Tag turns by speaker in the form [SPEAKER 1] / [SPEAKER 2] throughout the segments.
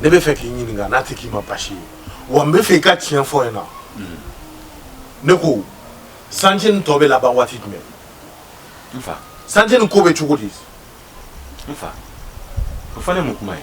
[SPEAKER 1] ne bɛ fɛ k'i ɲininka n'a tɛ k'i ma basi ye wa n bɛ fɛ i ka tiɲɛ fɔ n ɲɛ na hmm. ne ko santiye nin tɔ bɛ laban waati jumɛn n fa santiye nin ko bɛ cogo di n fa o fana ye mun kuma ye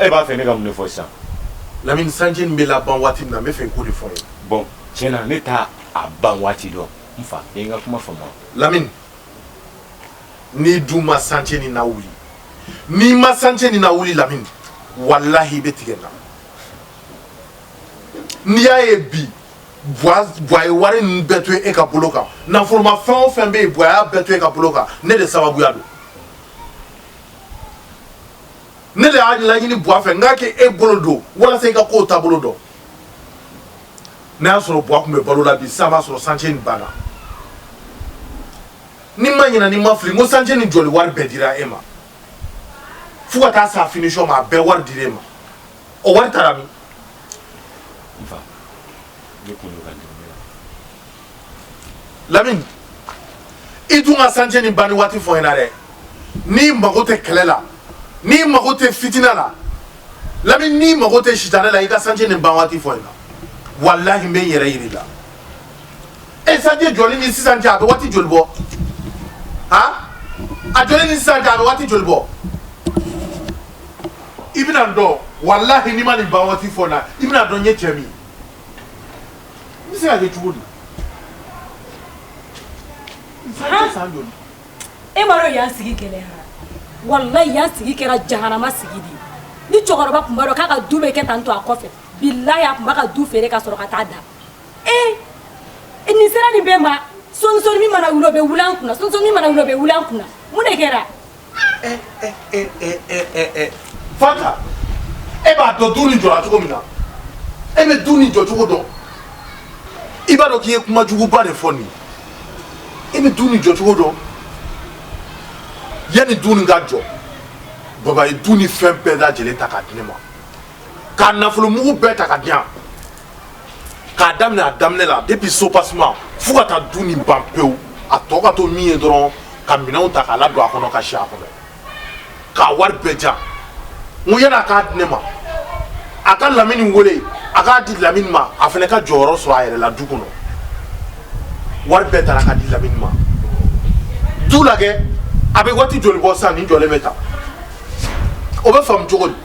[SPEAKER 1] e b'a fɛ ne ka mun de fɔ sisan lamini santiye nin bɛ laban waati min na n bɛ fɛ i k'o de fɔ n ye bɔn tiɲɛ na ne t'a ban waati dɔn n fa e ka kuma faamu lamini n'i dun ma santiye nin lawuli n'i ma santiye nin lawuli lamini walahi i bɛ tigɛ n na n'i y'a ye bi bwa ye wari ninnu bɛɛ to e ka bolo kan nafolomafɛn o fɛn bɛ yen bwa y'a bɛɛ to e ka bolo kan ne de sababuya don ne de y'a laɲini buwa fɛ n k'a kɛ e bolo don walasa i ka kow taabolo dɔn n'a y'a sɔrɔ buwa tun bɛ balo la bi sisan b'a sɔrɔ santiye nin banna ni n ma ɲina ni n ma fili n ko santiye nin jɔli wari bɛɛ dira e ma fo ka taa sa finisɔn ma a bɛɛ wari dira e ma o wari taara min n fa ne kun don ka dɛmɛ la lamini i dun ka santiye nin banni waati fɔ n na dɛ n'i mago tɛ kɛlɛ la n'i mago tɛ fitina la lamini n'i mago tɛ sitanɛ la i ka santiye nin ban waati fɔ n na walahi n bɛ n yɛrɛ yiri la e santiye jɔli ni sisan cɛ a bɛ waati joli bɔ han a jɔli ni sisan cɛ a bɛ waati joli bɔ i bɛna n dɔn walahi n'i ma nin ban waati fɔ n na i bɛn'a dɔn n ye cɛ min ye N bɛ se ka kɛ cogo di e m'a dɔn yan sigi gɛlɛya walahi yan sigi kɛra jahanama sigi de ni cɛkɔrɔba tun b'a dɔn k'a ka du bɛ kɛ tan to a kɔfɛ bilahi a tun b'a ka du feere ka sɔrɔ ka taa da e i ni sera nin bɛɛ ma sɔsɔ min mana wuli o bɛ wuli an kun sɔsɔ min mana wuli o bɛ wuli an kun mun de kɛra Fata e b'a dɔn du ni jɔra cogo min na e bɛ du ni jɔ cogo dɔn i b'a dɔn k'i ye kuma juguba de fɔ nin e bɛ du ni jɔ cogo dɔn yanni du ni ka jɔ baba ye du ni fɛn bɛɛ dalajɛlen ta k'a di ne ma k'a nafolo mugu bɛɛ ta k'a di yan k'a daminɛ a daminɛ la depuis soubassement fo ka taa du nin ban pewu a tɔ ka to min ye dɔrɔn ka minɛnw ta k'a ladon a kɔnɔ ka si a kɔnɔ k'a wari bɛɛ jan n ko yann'a k'a di ne ma a ka lamini wele a k'a di lamini ma a fana ka jɔyɔrɔ sɔrɔ a yɛrɛ la du kɔnɔ wari bɛɛ tara ka di lamini ma du lajɛ a bɛ waati joli bɔ sisan nin jɔlen bɛ tan o bɛ faamu cogo di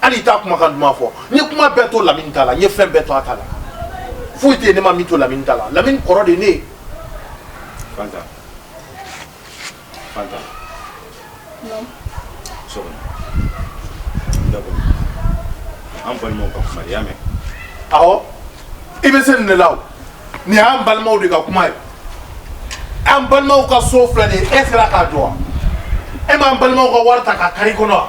[SPEAKER 1] hali i t'a kumakan duman fɔ n ye kuma bɛɛ to lamini ta la n ye fɛn bɛɛ to a ta la foyi tɛ yen ne ma min to lamini ta la lamini kɔrɔ de ye ne ye fanta fanta so kɔnɔ d'accord an balimaw ka kuma de y'a mɛn awɔ i bɛ se nin de la o nin y'an balimaw de ka kuma ye an balimaw ka so filɛ nin ye e sera k'a jɔ wa e m'an balimaw ka wari ta ka kari kɔnɔ wa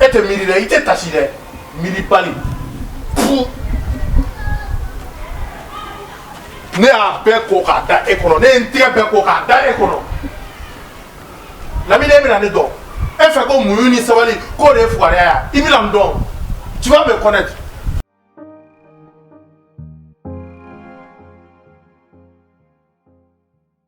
[SPEAKER 1] e tɛ miiri dɛ i tɛ tasi dɛ miiribali ne y'a bɛɛ ko k'a da e kɔnɔ ne ye n tigɛ bɛɛ ko k'a da e kɔnɔ lamine e bɛna ne dɔn e fɛ ko muɲu ni sabali k'o de ye fugariya ye i bɛna n dɔn tu vas me connaître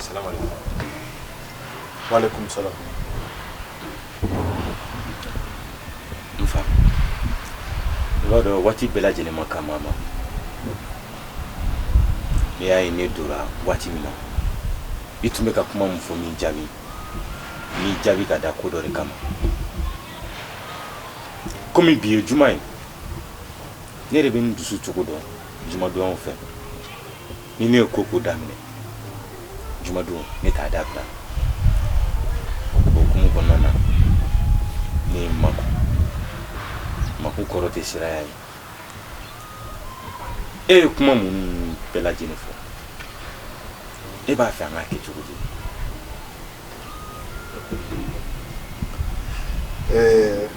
[SPEAKER 1] Salamu alaikum. Wa alaikum salam. N fa, i b'a dɔn waati bɛɛ lajɛlen man kan maa ma. Ne y'a ye ne donna waati min na, i tun bɛ ka kuma min fɔ n m'i jaabi, n m'i jaabi ka da ko dɔ de kama. Komi bi ye juma ye, ne yɛrɛ bɛ n dusu cogo dɔn jumadonyaw fɛ ni ne ye ko o ko daminɛ jumadon ne t'a dabila o hukumu kɔnɔna na ne ye n makun makun kɔrɔ tɛ siranya ye e ye kuma minnu bɛɛ lajɛlen fɔ e b'a fɛ an k'a kɛ cogo di eh,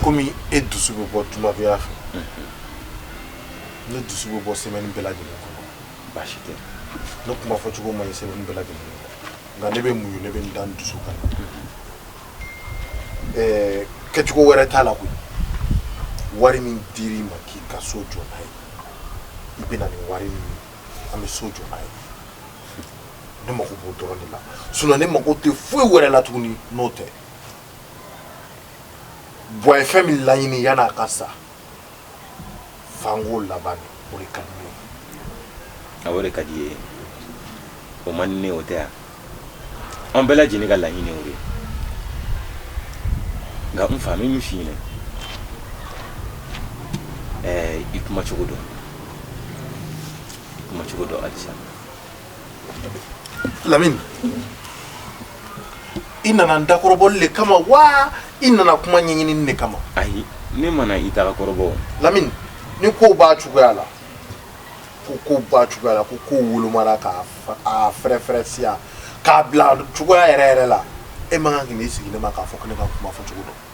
[SPEAKER 1] komi e dusu bɛ bɔ jumadonya fɛ ne dusu bɛ bɔ semaine bɛɛ lajɛlen kɔnɔ baasi tɛ ne kuma fɔcogo man ɲi semaine bɛɛ lajɛlen kɔnɔ nka ne bɛ muɲu ne bɛ n da n dusu kan eh, kɛcogo wɛrɛ t'a la koyi wari min dir'i ma k'i ka so jɔ n'a ye i bɛ na ni wari min ye an bɛ so jɔ n'a ye ne mako b'o dɔrɔn de la sinon ne mako tɛ foyi wɛrɛ la tuguni n'o tɛ bɔn a ye fɛn min laɲini yanni a ka sa fanko laban de o de ka di ne ye a o de ka di ye o man di ne o tɛ yan an bɛɛ lajɛlen ka laɲini o de ye nka n fa n b'a f'i ɲɛna ɛɛ i kuma cogo dɔn i kuma cogo dɔn halisa lamini i nana n dakɔrɔbɔli le kama wa i nana kuma ɲɛɲinini de kama ayi ne ma na i dakɔrɔbɔ lamini ni kow b'a cogoya la ko kow b'a cogoya la ko kow wolomara k'a fa- a fɛrɛfɛrɛ siya k'a bila cogoya yɛrɛ yɛrɛ la e man kan ka n'i sigi ne ma k'a fɔ ko ne ka kuma fɔ cogo dɔn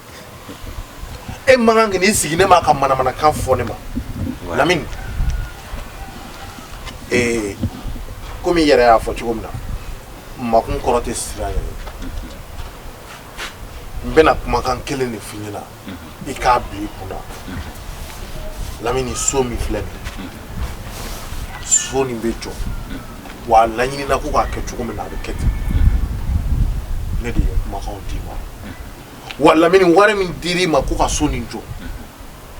[SPEAKER 1] e man kan ka n'i sigi ne ma ka manamanakan fɔ ne ma lamini ee komi i yɛrɛ y'a fɔ cogo min na makun kɔrɔ tɛ siran ye n bɛna kumakan kelen de f'i ɲɛna i k'a bila i kun na lamini so min filɛ nin so nin bɛ jɔ wa a laɲinina ko k'a kɛ cogo min na a bɛ kɛ ten ne de ye kumakanw d'i ma wa lamini wari min dir'i ma ko ka so nin jɔ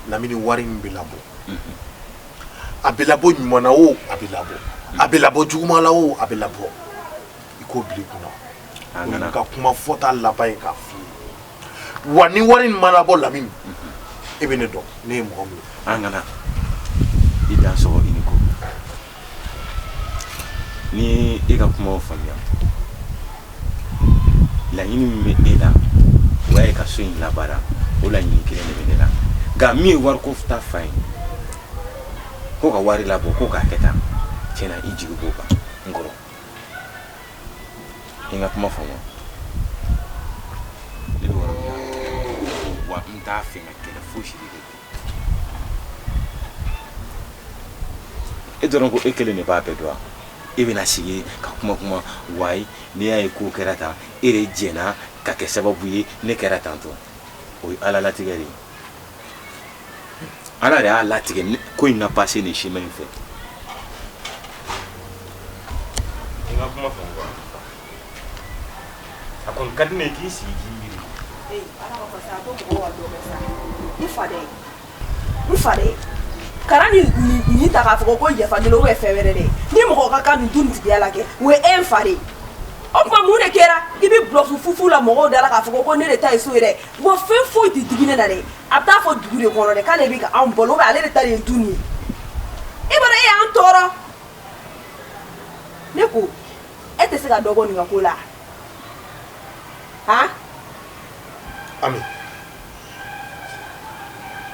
[SPEAKER 1] lamini wari nin bɛ labɔ a bɛ labɔ ɲuman na o a bɛ labɔ a bɛ labɔ juguman la o a bɛ labɔ i k'o bila i kunna o ye n ka kuma fɔta laban ye k'a f'i ye wa ni wari nin ma labɔ lamini e bɛ ne dɔn ne ye mɔgɔ min ye an kana i dan sɔgɔ i ni ko N y'i ka kuma faamuya laɲini min bɛ e la o ye ka so in labaara o laɲini kelen de bɛ ne la nka min ye wari ko ta fan ye ko ka wari labɔ ko k'a kɛ tan cɛ n'i jigi b'o kan n kɔrɔ i ka kuma faamuya ne bɛ yɔrɔ min na wa n t'a fɛ ka kɛlɛ fosi de kɛ e dɔrɔn ko e kelen de b'a bɛɛ dɔn e bɛna sigi ka kuma kuma wayi n'i y'a ye ko kɛra tan e de jɛnna ka kɛ sababu ye ne kɛra tan tɔ o ye ala latigɛ de ye ala de y'a latigɛ ko in ka pase nin chemin in fɛ a kɔni ka di ne ye k'i sigi k'i miiri Ee Ala ma fɔ sa ko mɔgɔw ka dɔ kɛ sa n fadɛ n fadɛ kana nin nin nin ta k'a fɔ ko yafa deli ou bien fɛn wɛrɛ dɛ ni mɔgɔ ka kan nin du nin tigiya la kɛ o ye an fa de ye o tuma mun de kɛra i bɛ bulɔfu fufu la mɔgɔw da la k'a fɔ ko ne de ta ye so ye dɛ wa fɛn foyi tɛ digi ne na dɛ a bɛ taa fɔ dugu de kɔnɔ dɛ k'ale bɛ ka anw balo ou bien ale de ta de ye du nin ye i b'a dɔn e y'an tɔɔrɔ ne ko e tɛ se ka dɔ bɔ nin ka ko la han ami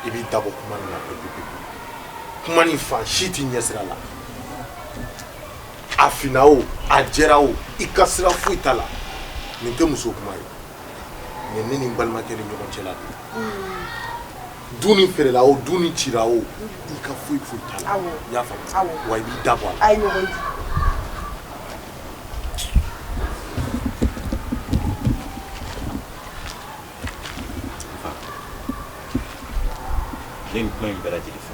[SPEAKER 1] i b'i dabɔ kuma nin na pepepepe kuma nin fan si t'i ɲɛsira la a fina o a jɛra o i ka sira foyi t'a la nin tɛ muso kuma ye nin ye ne ni n balimakɛ ni ɲɔgɔn cɛla de ye Du ni fɛrɛla o du ni cira o i ka foyi foyi t'a la wa i b'i da bɔ ni kuma in bɛɛ lajɛlen fɔ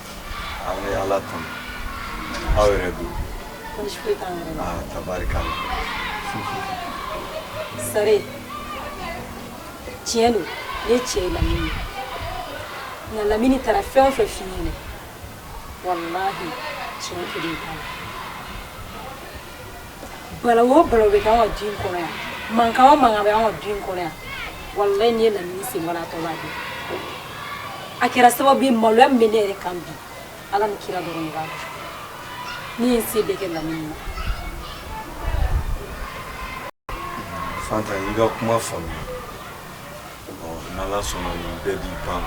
[SPEAKER 1] ala tun aw yɛrɛ don tari sari tiɲɛ don ne cɛ lamini nka lamini taara fɛn o fɛ fi ye walahi tiɲɛ kelen bala o bala bɛ k'an ka du in kɔnɔ yan mankan o mankan bɛ an ka du in kɔnɔ yan walayi n'i ye lamini sen bɔra a tɔ b'a dɔn a kɛra sababu ye maloya min bɛ ne yɛrɛ kan bi ala ni kira dɔrɔn de b'a dɔn ne ye n se bɛɛ kɛ lamini na fanta n y'i ka kuma faamuya ɔ n'ala sɔnna nin bɛɛ bɛ ban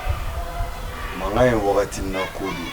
[SPEAKER 1] mankan ye wagati na ko de ye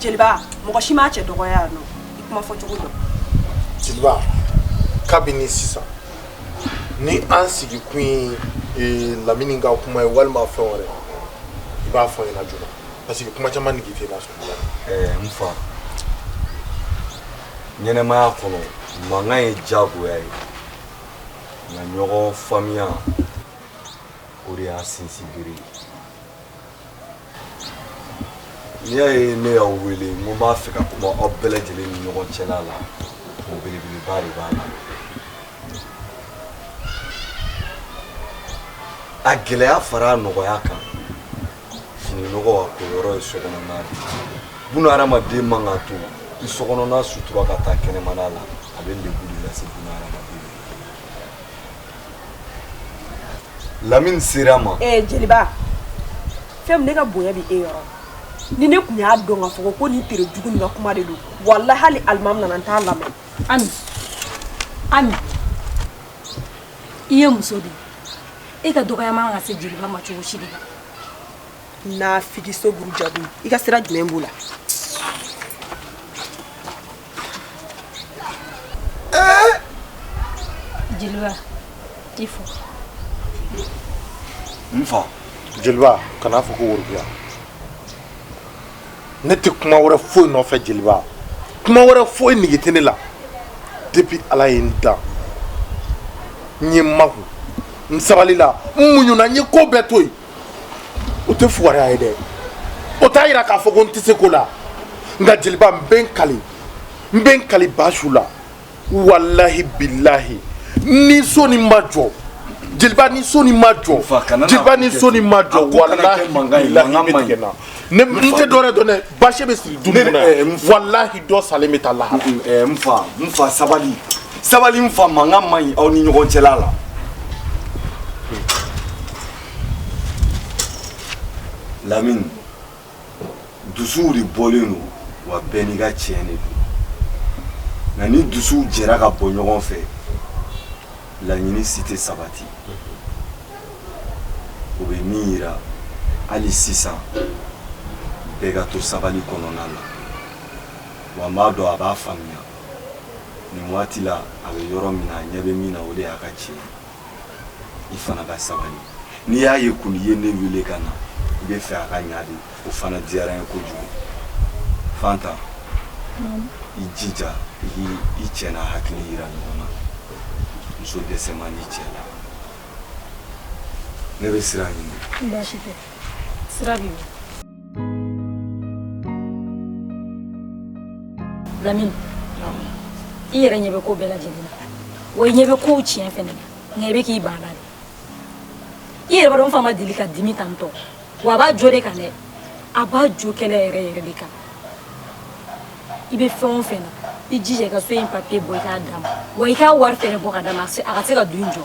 [SPEAKER 1] jeliba mɔgɔ si m'a cɛ dɔgɔya yan nɔ i kuma fɔ cogo dɔn jeliba kabini sisan ni an sigi kun ye eh, lamini ka kuma ye walima fɛn wɛrɛ i b'a fɔ n ɲɛna joona parce que kuma caman nege tɛ n na ɛɛ n fa ɲɛnamaya kɔnɔ mankan ye diyagoya ye nka ɲɔgɔn faamuya o de y'a sinsinbere ye n'i y'a ye ne y'aw wele n ko n b'a fɛ ka kuma aw bɛɛ lajɛlen ni ɲɔgɔn cɛla la o belebeleba de b'a la a gɛlɛya fara a nɔgɔya kan fini nɔgɔ ka ko yɔrɔ ye sokɔnɔna de buna hadamaden man ka to i sokɔnɔna sutura ka taa kɛnɛmana la a bɛ lebu de lase buna hadamaden lamini sera ma ee eh, jeliba fɛn min ne ka bonya bɛ e yɔrɔ ni ne tun y'a dɔn k'a fɔ ko nin tere jugu nin ka kuma de don walahi hali alimami nana n t'a lamɛn ami ami i ye muso de ye i ka dɔgɔya man ka se jeliba ma cogo si de la nafigi so buru jago i ka sira jumɛn b'o la jeliba i fo n fa jeliba kan'a fɔ ko worobiya ne tɛ kuma wɛrɛ foyi nɔfɛ jeliba kuma wɛrɛ foyi nige tɛ ne la depuis ala ye n dan n ye maku n sabalila n muɲuna n ye ko bɛɛ to yen o tɛ fugariya ye dɛ o t'a yira k'a fɔ ko n tɛ se ko la nka jeliba n bɛ n kali n bɛ n kali ba su la walahi bilahi ni so nin ma jɔ jeliba ni so nin ma jɔ jeliba ni so nin ma jɔ walahi bilahi bɛ tigɛ na ne n tɛ dɔwɛrɛ dɔn dɛ basi bɛ siri du nin na eh, walahi dɔ salen bɛ taa lahara. eh, n fa n fa sabali sabali n fa mankan man ɲi aw ni ɲɔgɔn cɛla la. lamini. dusuw de bɔlen don wa bɛɛ n'i ka tiɲɛ de don nka ni dusuw jɛra ka bɔ ɲɔgɔn fɛ laɲini si tɛ sabati o bɛ min yira hali sisan bɛɛ ka to sabali kɔnɔna na wa n b'a dɔn a b'a faamuya nin waati la a bɛ yɔrɔ min na a ɲɛ bɛ min na o de y'a ka tiɲɛ ye i fana ka sabali n'i y'a ye kɔni i ye ne wele ka na i bɛ fɛ a ka ɲa de o fana diyara n ye kojugu fanta i jija i k'i cɛ n'a hakili yira ɲɔgɔn na muso dɛsɛ man di cɛ la ne bɛ sira ɲini baasi tɛ sira b'i bolo Lamini i yɛrɛ ɲɛ bɛ ko bɛɛ lajɛlen na wa i ɲɛ bɛ kow tiɲɛ fɛnɛ na nka i bɛ k'i ban a la de i yɛrɛ b'a dɔn n fa ma deli ka dimi tan tɔ wa a b'a jo de kan dɛ a b'a jo kɛlɛ yɛrɛ yɛrɛ de kan i bɛ fɛn o fɛn na i jija i ka so in papiye bɔ i k'a d'a ma wa i k'a wari fɛnɛ bɔ ka d'a ma a se- a ka se ka du in jɔ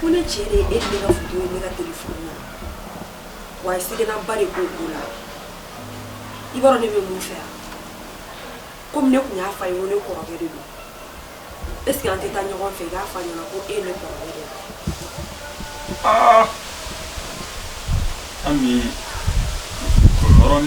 [SPEAKER 1] Ko ne ci e ne ka wa i seginba de ko ko la i b'a ne bɛ mun fɛ yan kɔmi ne tun y'a f'a ye ko ne kɔrɔkɛ de don e sigi an tɛ taa ɲɔgɔn fɛ i k'a f'a ɲɛna ko e ne kɔrɔkɛ de ami kɔrɔɔrɔn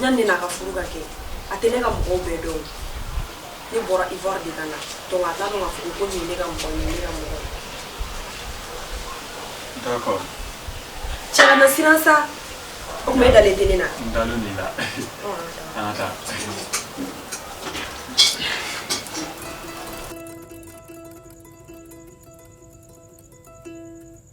[SPEAKER 1] Yanni ne n'a ka furu ka kɛ a tɛ ne ka mɔgɔw bɛɛ dɔn ne bɔra Ivoire de ka na to a taa ka furu ko ne ka mɔgɔ ne ka mɔgɔ cɛ na siran sa o tun bɛ dalen deni na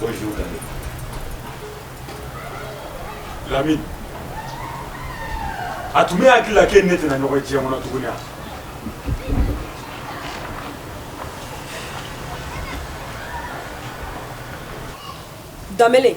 [SPEAKER 1] Bonjour, Lamine. Lamine. A tun b'e hakili la k'e ni ne tɛna ɲɔgɔn ye diɲɛ kɔnɔ tuguni wa? Danbele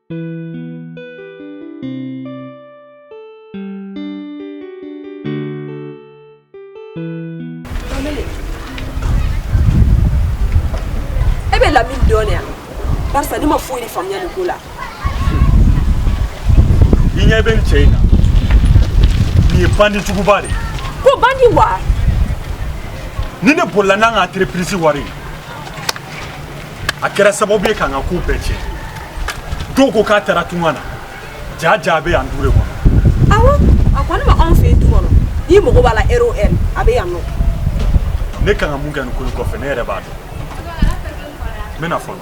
[SPEAKER 1] E bɛ Lamine dɔn yan parce que ne ma foyi de faamuya nin ko la i ɲɛ bɛ nin cɛ in na nin ye bandi juguba de ye ko bandi wa nin de bolila n'an ka entreprise wari ye a kɛra sababu ye k'an ka ko bɛɛ tiɲɛ dɔw ko k'a taara tunga na jaa jaa a bɛ yan du de kɔnɔ awɔ a kɔni b'anw fɛ yen du kɔnɔ n'i mago b'a la ɛri o ɛri a bɛ yan nɔ ne kan ka mun kɛ nin ko in kɔfɛ ne yɛrɛ m'a dɔn n bɛna fɔlɔ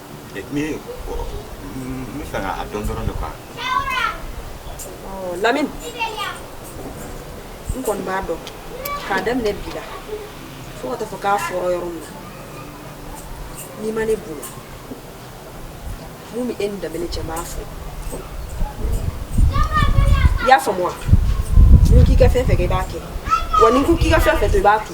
[SPEAKER 1] Min fɛ a dɔn dɔrɔn de kan Lamine n kɔni b'a dɔn k'a daminɛ bi la fo ka t'a fɔ k'a foori yɔrɔ min na n'i ma ne bolo min bɛ e ni Danbele cɛ n b'a fɔ i y'a faamu wa n k'i ka fɛn fɛn kɛ i b'a kɛ wa ni n ko k'i ka fɛn fɛn kɛ i b'a kɛ